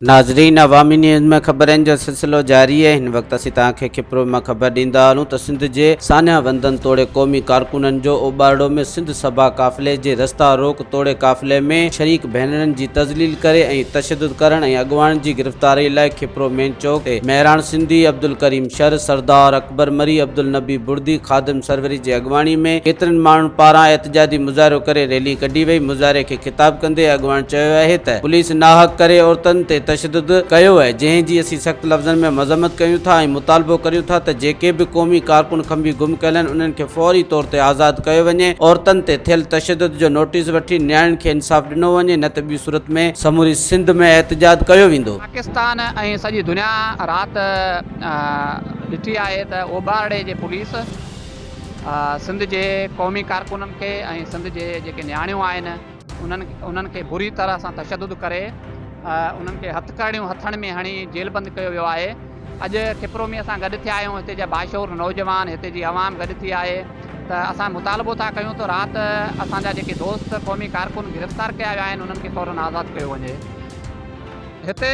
ناظرين عوامي نيوز ۾ خبرن جو سلسلو جاري آهي هن وقت اسين توهان کي کپرو مان خبر ڏيندا هلون ته سنڌ جي سانحه وندن توڙي قومي ڪارڪنن جو اوٻارڙو ۾ سنڌ سڀا قافلي جي رستا روڪ توڙي قافلي ۾ شريڪ ڀينرن جي تذليل ڪري ۽ تشدد ڪرڻ ۽ اڳواڻن جي گرفتاري لاء کپرو مين چوڪ تي مهراڻ سنڌي، عبدالڪريم شر، سردار اڪبر مري، عبدالنبي بڙدي، خادم سروري جي اڳواڻي ۾ ڪيترن ماڻهن پاران احتجاجي مظاهرو ڪري ريلي ڪڍي وئي، مظاهري کي خطاب ڪندي اڳواڻ چيو آهي ته پوليس ناحق ڪري عورتن تي تشدد ڪيو آهي جنهن جي اسين سخت لفظن ۾ مذمت ڪيون ٿا ۽ مطالبو ڪريون ٿا ته جيڪي به قومي ڪارڪن کنڀي گم ڪيل آهن انهن کي فوري طور تي آزاد ڪيو وڃي، عورتن تي ٿيل تشدد جو نوٽيس وٺي نياڻين کي انصاف ڏنو وڃي نه ته ٻي صورت ۾ سموري سنڌ ۾ احتجاج ڪيو ويندو. پاڪستان ۽ سڄي دنيا رات ڏٺي آهي ته اوڀارڙي جي پوليس سنڌ جي قومي ڪارڪنن کي ۽ سنڌ جي جيڪي نياڻيون آهن، انهن کي بري طرح سان تشدد ڪري انهن کي هٿڪڙيون هٿڻ ۾ هڻي جيلبند ڪيو ويو آهي اڄ کپرو ۾ اسان گڏ ٿيا آهيون هتي جا باشعور نوجوان هتي جي عوام گڏ ٿي آهي ته اسان مطالبو ٿا ڪيون ته رات اسان جا جيڪي دوست قومي ڪارڪن گرفتار ڪيا ويا آهن انهن کي فورن آزاد ڪيو وڃي هتي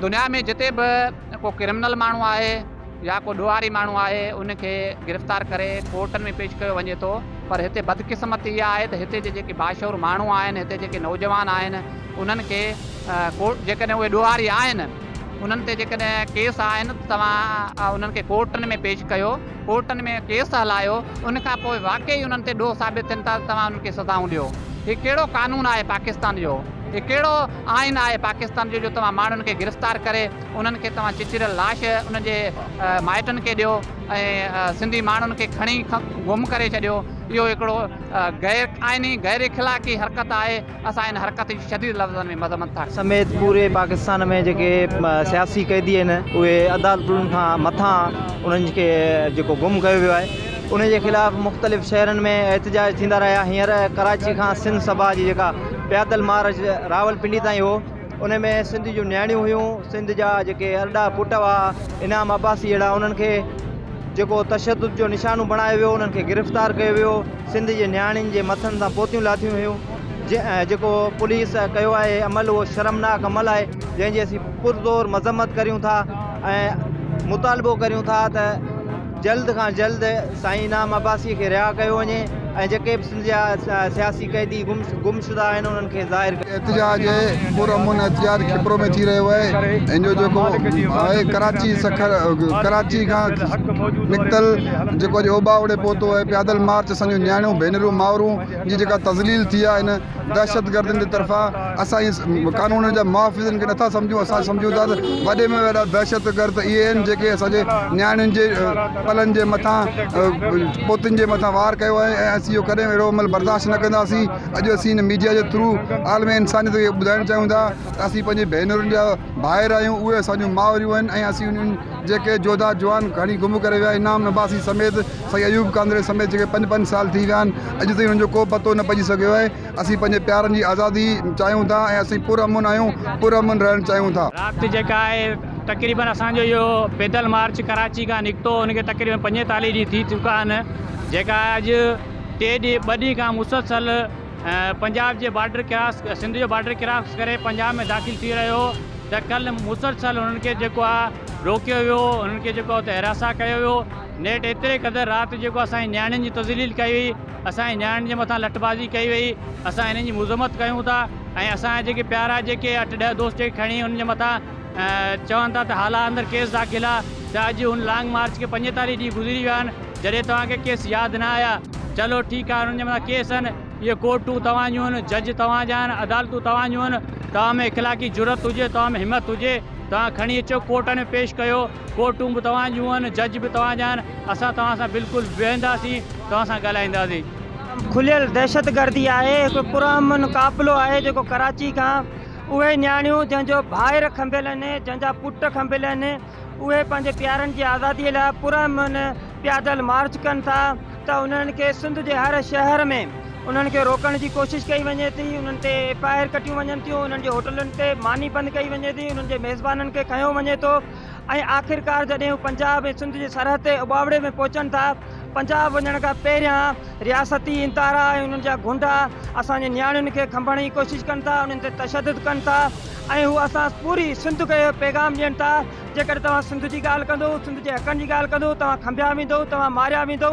دنيا ۾ جتي به ڪو ڪرمنل ماڻهو آهي يا ڪو ڏوهاري ماڻهو آهي ان کي گرفتار ڪري ڪورٽن ۾ پيش ڪيو وڃي ٿو پر هتي بدقسمتي اها آهي ته هتي جي جيڪي باشعور ماڻهو آهن هتي جيڪي نوجوان آهن انهن کي ڪورٽ جيڪڏهن اهي ڏوهاري آهن انهن تي جيڪڏهن ڪيس آهن ته توهان انهن کي ڪورٽن ۾ پيش ڪيو ڪورٽن ۾ ڪيس هلايو ان کان پوء واقعي انهن تي ڏوهه ثابت ٿين ته توهان انهن کي سزائون ڏيو هي ڪهڙو قانون آهي پاڪستان جو هي ڪهڙو آئين آهي پاڪستان جو جو توهان ماڻهن کي گرفتار ڪري انهن کي توهان چچريل لاش انهن جي مائٽن کي ڏيو ۽ سنڌي ماڻهن کي کڻي گم ڪري ڇڏيو اهو هڪڙو غير آئيني غير اخلاقي حرڪت آهي اسان ان حرڪت جي شديد لفظن ۾ مذمت ٿا سميت پوري پاڪستان ۾ جيڪي سياسي قيدي آهن اهي عدالتن کان مٿان انهن کي جيڪو گم ڪيو ويو آهي ان جي خلاف مختلف شهرن ۾ احتجاج ٿيندا رهيا هينئر ڪراچي کان سنڌ سڀا جي جيڪا پيادل مارچ راولپنڊي تائين هو، ان ۾ سنڌ جون نياڻيون هيون، سنڌ جا جيڪي ارڏا پٽ هئا، انعام عباسي جهڙا، انهن کي جيڪو تشدد جو نشانو بڻايو ويو، انهن کي گرفتار ڪيو ويو، سنڌ جي نياڻين جي مٿن تان پوتيون لاٿيون ويون، جيڪو پوليس ڪيو آهي عمل اهو شرمناڪ عمل آهي، جنهن جي اسين پرزور مذمت ڪريون ٿا ۽ مطالبو ڪريون ٿا ته. جلد کان جلد سائين انعام عباسي کي رها ڪيو وڃي ۽ جيڪي به سنڌ جا سياسي قيدي گم شده آهن انهن کي ظاهر ڪيو احتجاج پر امن احتجاج کپرو ۾ ٿي رهيو آهي ان جو جيڪو آهي ڪراچي سکر ڪراچي کان نڪتل جيڪو اڄ اوٻاوڙي پهتو آهي پيادل مارچ اسان جون نياڻيون ڀينرون مائرون جي جيڪا تذليل ٿي آهي ان دهشتگردن جي طرفان اسان جي قانون جا محافظن کي نٿا سمجهون اسان سمجهون ٿا ته وڏي ۾ وڏا دهشتگرد اهي آهن جيڪي اسان جي نياڻين جي پلن جي مٿان پوتين جي مٿان وار ڪيو آهي ۽ اسين اهو ڪڏهن به اهڙو عمل برداشت نه ڪنداسين اڄ اسين هن ميڊيا جي ٿرو عالم انسانيت کي اهو ٻڌائڻ چاهيون ٿا ته اسين پنهنجي ڀينرن جا ڀائر آهيون اهي اسان جون مائريون آهن ۽ اسين انهن جيڪي جوڌا جوان کڻي گم ڪري ويا انعام عباسي سميت سائين ايوب ڪانڌڙي سميت جيڪي پنج پنج سال ٿي ويا آهن اڄ تائين انهن جو ڪو پتو نه پئجي سگهيو آهي اسين پنهنجي پيارن جي آزادي چاهيون ٿا ۽ اسين پر امن آهيون پر امن رهڻ چاهيون ٿا. رات جيڪا آهي تقريبن اسان جو اهو پيدل مارچ ڪراچي کان نڪتو ان کي تقريبن پنجيتاليهه ڏينهن ٿي چڪا آهن جيڪا اڄ ٽي ڏينهن ٻه ڏينهن کان مسلسل پنجاب جي بارڊر ڪراس سنڌ جو بارڊر ڪراس ڪري پنجاب ۾ داخل ٿي رهيو هو ته ڪل مسلسل انهن کي جيڪو آهي روڪيو ويو انهن کي جيڪو آهي اتي حراسان ڪيو ويو نيٺ ايتري قدر رات جيڪو اسان جي نياڻين جي تذليل ڪئي وئي، اسان جي نياڻين جي مٿان لٺ بازي ڪئي وئي، اسان انهن جي مذمت ڪيون ٿا ۽ اسان جا جيڪي پيارا جيڪي اٺ ڏهه دوست جيڪي کڻي انهن جي مٿان چون ٿا ته هالا اندر ڪيس داخل آ ته اڄ ان لانگ مارچ کي پنجيتاليهه ڏينهن گذري ويا آهن جڏهن توهان کي ڪيس ياد نه آيا چلو ٺيڪ آهي انهن جي مٿان ڪيس آهن اهي ڪورٽون توهان جون آهن جج توهان جا آهن عدالتون توهان جون آهن توهان ۾ اخلاقي جرئت هجي توهان ۾ همت هجي توهان کڻي اچو ڪورٽن ۾ پيش ڪيو ڪورٽون به توهان جون آهن، جج به توهان جا آهن، اسان توهان سان بلڪل ويهنداسين، توهان سان ڳالهائينداسين. کليل دهشتگردي آهي، هڪ پرامن قافلو آهي جيڪو ڪراچي کان اهي نياڻيون جنهن جو ڀائر کنڀيل آهن، جنهن جا پٽ کنڀيل آهن، اهي پنهنجي پيارن جي آزادي لاء پرامن پيادل مارچ ڪن ٿا. ته انهن کي سنڌ جي هر شهر ۾ انهن کي روڪڻ جي ڪوشش ڪئي وڃي ٿي انهن تي ايف آء آر ڪٽيون وڃن ٿيون انهن جي هوٽلن تي ماني بند ڪئي وڃي ٿي انهن جي ميزبانن کي کنيو وڃي ٿو ۽ آخرڪار جڏهن هو پنجاب ۽ سنڌ جي سرحد تي اٻاوڙي ۾ پهچن ٿا پنجاب وڃڻ کان پهريان رياستي انتارا ۽ انهن جا گونڊا اسان جي نياڻين کي کنڀڻ جي ڪوشش ڪن ٿا انهن تي تشدد ڪن ٿا ۽ هو اسان پوري سنڌ کي پيغام ڏين ٿا جيڪڏهن توهان سنڌ جي ڳالهه ڪندو، سنڌ جي حقن جي ڳالهه ڪندو، توهان کنڀيا ويندو، توهان ماريا ويندو،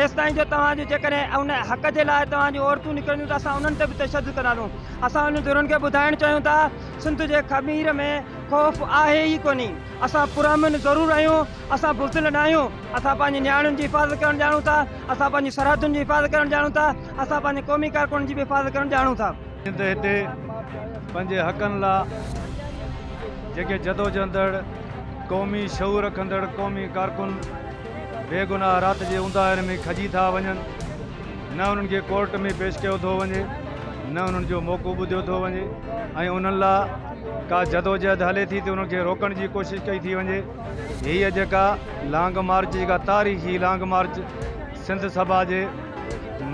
ايستائين جو توهان جي جيڪڏهن ان حق جي لاء توهان جون عورتون نڪرنديون ته اسان انهن تي به تشدد ڪنداسون. اسان انهن ڌرين کي ٻڌائڻ چاهيون ٿا سنڌ جي خمير ۾ خوف آهي ئي ڪونهي. اسان پرامن ضرور آهيون، اسان بزدل ناهيون، اسان پنهنجي نياڻين جي حفاظت ڪرڻ ڄاڻون ٿا، اسان پنهنجي سرحدن جي حفاظت ڪرڻ ڄاڻون ٿا، اسان پنهنجي قومي ڪارڪنن جي به حفاظت ڪرڻ ڄاڻون ٿا. جيئن ته هتي پنهنجي حقن لا جيڪي جدوجهندڙ قومي شعور رکندڙ قومي ڪارڪن بي گناهه رات جي اونداهين ۾ کڄي ٿا وڃن نه انهن کي ڪورٽ ۾ پيش ڪيو ٿو وڃي نه انهن جو موقعو ٻڌيو ٿو وڃي ۽ انهن لا ڪا جدوجهد هلي ٿي ته انهن کي روڪڻ جي ڪوشش ڪئي ٿي وڃي هيء جيڪا لانگ مارچ جيڪا تاريخي لانگ مارچ سنڌ سڀا جي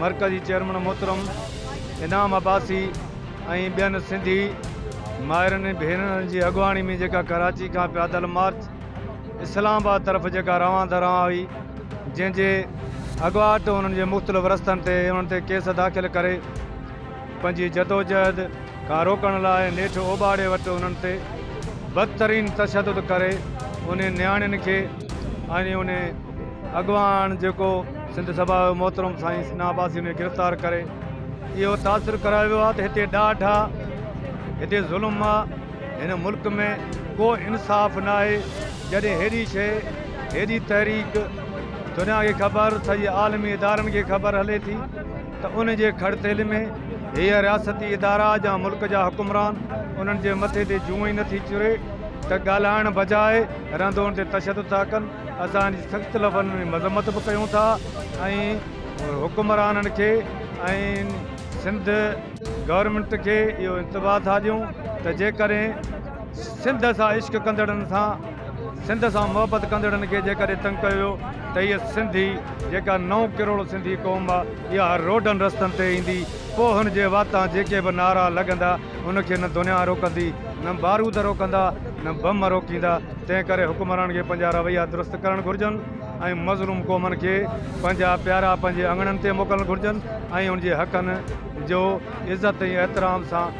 مرڪزي چيئرمن محترم انعام عباسي ۽ ٻين سنڌي مائرن ۽ ڀينرن جي اڳواڻي ۾ جيڪا ڪراچي کان پيادل مارچ اسلام آباد طرف جيڪا روان دروان هئي جنهن جي اڳواٽ انهن جي مختلف رستن تي انهن تي ڪيس داخل ڪري پنهنجي جدوجهد کان روڪڻ لاء نيٺ اوٻاڙي وٽ انهن تي بدترين تشدد ڪري انهن نياڻين کي ۽ انهي اڳواڻ جيڪو سنڌ سڀا جو محترم سائين سنا عباسي انهي گرفتار ڪري اهو تاثر ڪرايو ويو آهي ته هتي ڏاڍ آ هتي ظلم آ هن ملڪ ۾ ڪو انصاف ناهي جڏهن هيڏي شيء هيڏي تحريڪ دنيا کي خبر سڄي عالمي ادارن کي خبر هلي ٿي. ته ان جي کڙ تيل ۾ هيء رياستي ادارا جا ملڪ جا حڪمران انهن جي مٿي تي جون ئي نٿي چري ته ڳالهائڻ بجاء رندون تي تشدد ٿا ڪن اسان ان جي سخت لفظن ۾ مذمت به ڪيون ٿا ۽ حڪمرانن کي ۽ سنڌ گورنمينٽ کي اهو انتباهه ٿا ڏيون ته جيڪڏهن سنڌ سان عشق ڪندڙن سان سنڌ سان محبت ڪندڙن کي جيڪڏهن تنگ ڪيو ويو ته هيء سنڌي جيڪا نو ڪروڙ سنڌي قوم آ اها روڊن رستن تي ايندي پوء هن جي واتان جيڪي به نعرا لڳندا ان کي نه دنيا روڪندي نه بارود روڪندا نه بم روڪيندا تنهن ڪري حڪمرانن کي پنهنجا رويا درست ڪرڻ گهرجن ۽ مظلوم قومن کي پنهنجا پيارا پنهنجي اڱڻن تي موڪلڻ گهرجن ۽ ان جي حقن جو عزت ۽ احترام سان